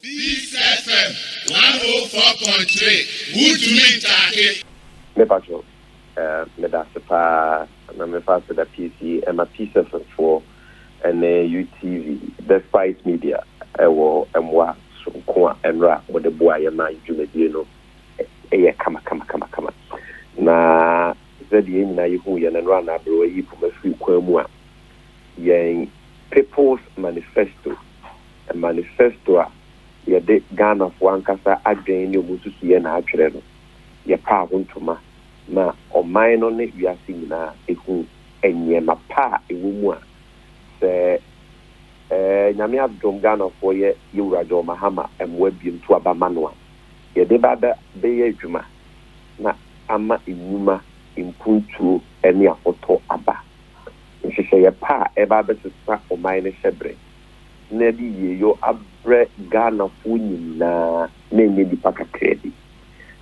Peace FM one oh four point three wuntumi ntaake. Me pacho eh medase paa na me fa aseda peace yi ɛma peace fm foɔ ɛne utv the spice media ɛwɔ ɛmoa soronko a ɛnora mode boa yɛ ma yi dwumadie no ɛyɛ kama kama kama kama na zɛdeɛ yɛ nyina yɛ hu yɛ no ɛnora na aberewa yi poma firi kwan mu a yɛn People's Manifesto, manifesto a yɛde Ghanafoɔ ankasa adwene ne wɔn nsusuiɛ na atwerɛ no, yɛpaa ho ntoma ma ɔman no ne wiase nyinaa ɛhuu nneɛma pa a ɛwɔ mu a sɛ ɛɛ Nyame adom Ghanafoɔ yɛ Yawura John Mahama mmoa biom to aba ma no a, yɛde ba bɛ bɛyɛ adwuma na ama nnwuma, mpuntuo ne afɔtɔ aba. Nhyehyɛeɛ pa a ɛreba abɛsesa ɔman no hyɛberɛ na ɛde yieyɔ abrɛ Ghanafoɔ nyinaa na ɛnyɛ nnipa kakraa bi.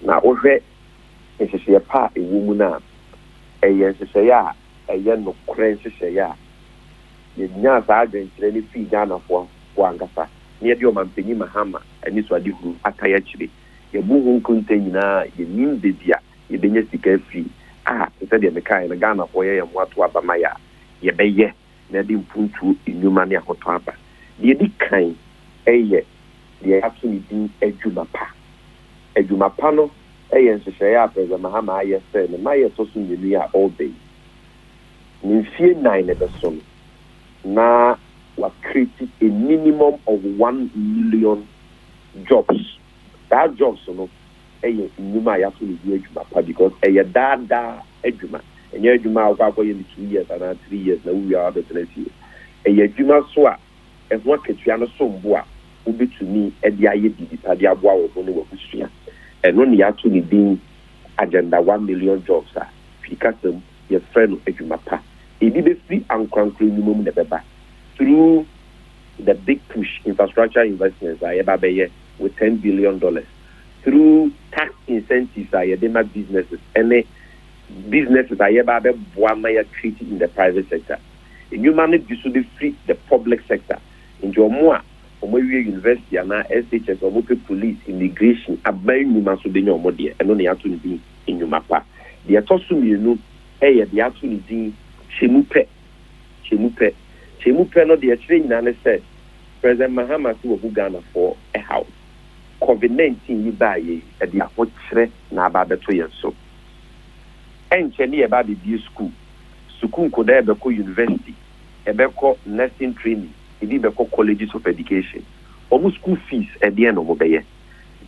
Na wohwɛ nhyehyɛeɛ pa a ɛwɔ mu no a, ɛyɛ nhyehyɛeɛ a ɛyɛ nokorɛ nhyehyɛeɛ a yɛnyaa saa adwenkyerɛ no firii Ghanafoɔ ankasa na yɛde Ɔmanpanin Mahama anisoadehunu atan akyire. Yɛabu ho nkonta nyinaa a, yɛnnim baabi a yɛbɛnya sika afi a, te sɛ deɛ mekaeɛ no, Ghanafoɔ yɛyɛ mmoa to aba ma yɛ a, yɛbɛyɛ na ɛde mpuntuo nnwuma ne ahotɔ aba. Deɛ ɛdi kan yɛ deɛ yɛato no din adwuma pa. Adwuma pa no yɛ nhyehyɛeɛ a President Mahama ayɛ sɛ ne mmaeɛ a ɛtɔ so mmienu yi a ɔreba yi, ne mfeɛ nnan no bɛso no, na wakreti a minimum of one million jobs. Saa jobs no, yɛ nnwuma a yɛato no din adwuma pa because ɛyɛ daa daa adwuma. Ɛnyɛ adwuma a wokɔ akɔyɛ no two years anaa three years na wowie a woabɛtena fie. Ɛyɛ adwuma nso a ɛho akatua no som bo a wobɛtumi de ayɛ biribi pa de aboa wo ho ne w'abusua. Ɛno na yɛato no din Agenda One Million Jobs a Twi kasa mu yɛfrɛ no adwuma pa. Ɛbi bɛfiri ankorankoro nnwuma mu na ɛbɛba through the big push infrastructure investments a yɛbɛba abɛyɛ. with ten billion dollars through tax incentives a yɛde ma businesses ne businesses a yɛba abɛboa ma yɛ create in the private sector. Nnwuma no bi so bɛfiri the public sector, nti wɔn a wɔn awie university anaa SHS a wɔn pɛ police, immigration, aban nnwuma so bɛnya wɔn deɛ, ɛno na yɛato no din nnwuma pa. Deɛ ɛtɔ so mmienu yɛ deɛ yɛato no din kyɛmu pɛ, kyɛmu pɛ, kyɛmu pɛ no deɛ ɛkyerɛ nyinaa ne sɛ, President Mahama se wabu Ghanafoɔ haw Covid nineteen yi baa yei de ahokyerɛ na aba abɛto yɛn so. Ɛnkyɛ ne yɛba abɛbue sukuu, sukuu nkodaa ɛbɛkɔ university, ɛbɛkɔ nursing training, ebi bɛkɔ colleges of education. Wɔn sukuu fees ɛdeɛn na wɔbɛyɛ?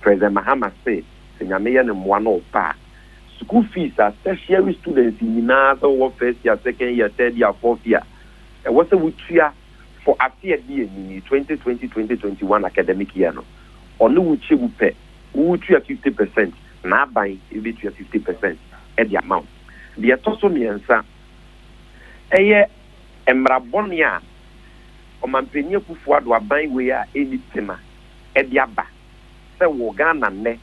President Mahama se sɛ Nyame yɛ ne mmoa na ɔba a, sukuu fees a tertiary students nyinaa sɛ wowɔ first year, second year, third year, fourth year ɛwɔ sɛ wotua for afe a edi anim yi, twenty twenty, twenty twenty one academic year no, ɔne wo kyɛ mu pɛ, woretua fifty percent, n'aban betua fifty percent de ama wo. Deɛ ɛtɔ so mmiɛnsa, ɛyɛ mmara bɔne a Ɔmanpanin Akuffo Addo aban wei a ɛnni tema de aba sɛ wɔ Ghana nnɛ,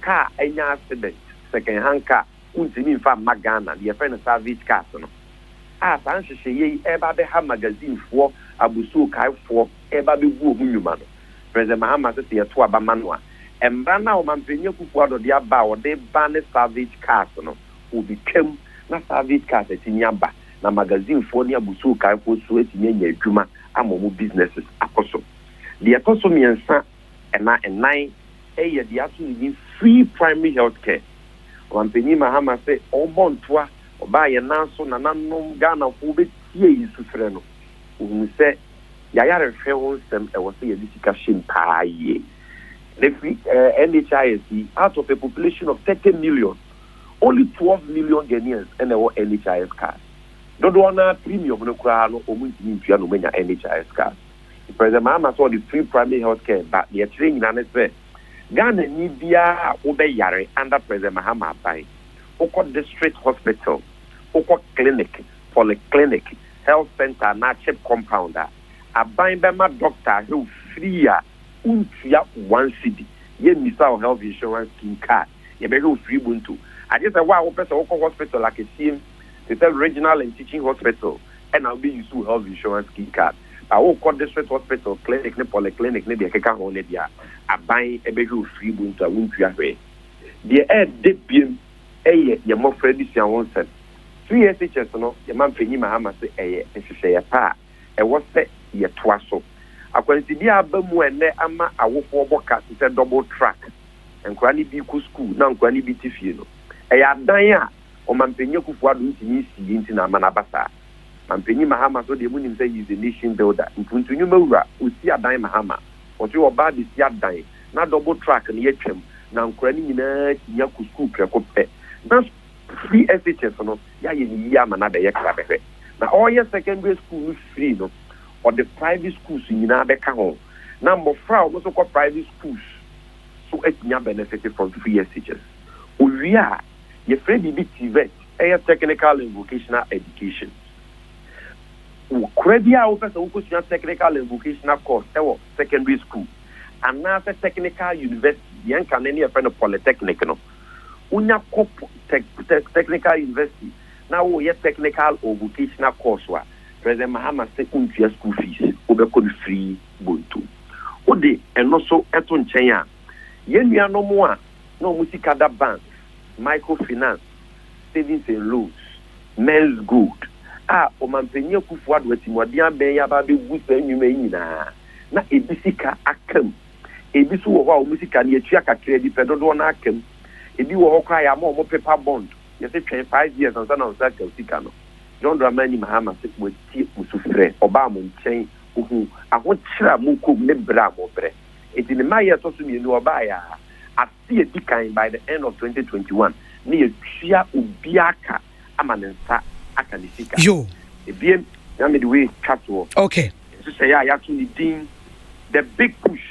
kaa anya accident, second hand car, wontumi mfa mma Ghana, deɛ yɛfrɛ no Salvage Cars no, a saa nhyehyɛeɛ yi reba abɛha magazinefoɔ abusuokaefoɔ reba abɛgu wɔn nnwuma no. President Mahama se sɛ yɛto aba ma no a, mmara no a Ɔmanpanin Akufo-Addo de aba a ɔde reba ne Salvage Cars no, wɔbɛtwam na Salvage Cars atumi aba na magazinefoɔ ne abusuokaefoɔ nso atumi anya adwuma ama wɔn businesses akɔ so. Deɛ ɛtɔ so mmiɛnsa. ɛna nnan. Ɛyɛ deɛ ato ne din Free Primary Health Care. Ɔmampanyin Mahama se ɔrebɔ ntoa, ɔbaa yɛn nan so, nananom, Ghanafo wobɛtie yɛn sufrɛ no. Ɔhunu sɛ yayarehwɛ ho nsɛm ɛwɔ sɛ yɛde sika hyem paa yie. Na ɛfiri NHIS yi, out of a population of 30 million, only 12 million Ghanaians na ɛwɔ NHIS cards. Dodoɔ no ara premium no koraa no wɔntumi ntua na wɔanya NHIS cards. President Mahama sɛ ɔde free primary health care ba, deɛ ɛkyerɛ nyinaa ne sɛ Ghanani biara a wobɛyare under President Mahama aban, wokɔ district hospital, wokɔ clinic, polyclinic, health centre anaa chip compound a, aban bɛma doctor ahew free a wontua one cedi, yɛmmisa wo health insurance scheme card, yɛbɛhwɛ wo free bonto. Agye sɛ wo a wopɛ sɛ wokɔ hospital akɛseɛ mu te sɛ regional and teaching hospital ɛna wobɛ use wo health insurance scheme card. Na wokɔ district hospital, clinic ne polyclinic ne deɛ ɛkeka ho no deɛ a, aban bɛhwɛ wo firi bu nti a wontua hwee. Deɛ ɛyɛ dɛ biom yɛ yɛn mmɔfra adesua ho nsɛm. CHS no, yɛn mampanyin Mahama se ɛyɛ nhyehyɛeɛ pa a ɛwɔ sɛ yɛtoa so. Akwansideɛ a aba mu ɛnnɛ ama awofoɔ bɔ ka te sɛ double track, nkwadaa no bi kɔ sukuu na nkwadaa no bi te fie no, ɛyɛ adan a Ɔmampanyin Akuffo-Addo ntumi nsii nti na ama no aba saa. Mampanyin Mahama so deɛ monim sɛ he is a nation builder, Mpuntu Nnwuma Wura, ɔsi adan Mahama, ɔtwe ɔbaa de si adan, na double track no yɛtwam, na nkwadaa no nyinaa tumi akɔ sukuu prɛko pɛ, na free SHS no yɛayɛ no yie ama no abɛyɛ kra bɛhwɛ, na ɔreyɛ secondary school no free no ɔde private schools nyinaa bɛka ho, na mmɔfra a wɔn nso kɔ private schools nso atumi abɛnɛfete from free SHS. Ɔwie a, yɛfrɛ biribi TVET. yɛ Technical and Vocational Education. Kora biara a wopɛ sɛ wokɔsua Technical and Vocational course wɔ secondary school anaasɛ Technical University, deɛ nka ne ne yɛfrɛ no Polytechnic no, wonya kɔ Technical University na woreyɛ Technical or Vocational course a, President Mahama se wontua school fees, wobɛkɔ no free bonto. Wode ɛno nso to nkyɛn a, yɛn nuanom a na wɔn sika da banks, microfinance, savings and loans, men's gold, a Ɔmanpanyin Akufo-Addo atimuaden abɛn yi aba abegu saa nnwuma yi nyinaa, na ebi sika aka mu. Ebi nso wɔ hɔ a wɔn sika no, yɛatua kakraa bi pɛ, dodoɔ no ara aka mu. Ebi wɔ hɔ koraa a, yɛama wɔn paper bond, yɛse twɛn five years ansa na wo nsa aka wo sika no. John Dramani Mahama se watie mo sufrɛ, ɔbaa mo nkyɛn, ohuu ahokyerɛ a mokɔ mu ne brɛ a mobrɛ. Enti ne mma a ɛyɛ a ɛtɔ so mmienu a ɔbaeɛ a, afe a ɛdi kan, by the end of twenty twenty one, na yɛatua obiara ka ama ne nsa aka ne sika. Yo. Ebien, na mede wei retwa toɔ. Okay. Nhyehyɛeɛ a yɛato ne din The Big Push.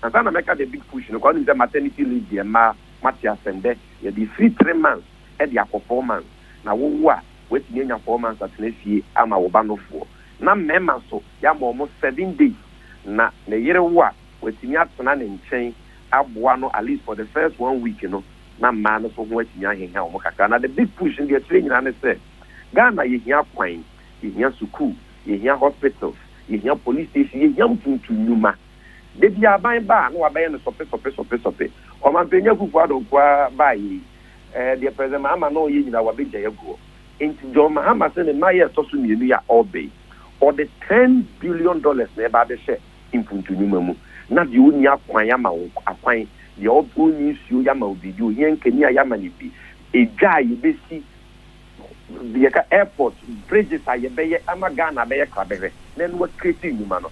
Ansa na mɛka The Big Push no koraa, wonim sɛ maternity leave deɛ mmaa moate asɛm. Dɛ yɛde ɛfiri three months de akɔ four months. Na wowo a, woatumi anya four months atena fie ama wo ba nofoɔ. na mmarima nso yɛama wɔn seven days na ne yere wo a watumi atena ne nkyɛn aboa no at least for the first one week no na mmaa no nso ho atumi aheha wɔn kakra na the big push no deɛ ɛkyerɛ nyinaa ne sɛ Ghana yɛhia kwan, yɛhia sukuu, yɛhia hospitals, yɛhia police station, yɛhia mpuntu nnwuma. Da biara aban ba a na wabɛyɛ no sɔpe sɔpe sɔpe sɔpe. Ɔmampanyin Akuffo Addo nkoaa baeɛ yi, ɛɛ deɛ President Mahama na ɔyɛ nyinaa wabɛgyae aguɔ. Enti John Mahama sɛ ne mma yɛ ɛtɔ so mmienu yi a ɔreba yi, ɔde ten billion dollars na ɛreba abɛhyɛ mpuntu nnwuma mu. Na deɛ ɔnni akwan yɛama wo akwan, deɛ ɔnni nsuo yɛama wo biribi, ohia nkanea yɛama no bi, edwa a yɛbɛsi, deɛ yɛka airport, bridges a yɛbɛyɛ ama Ghana abɛyɛ krabɛhwɛ na ɛno akreate nnwuma no.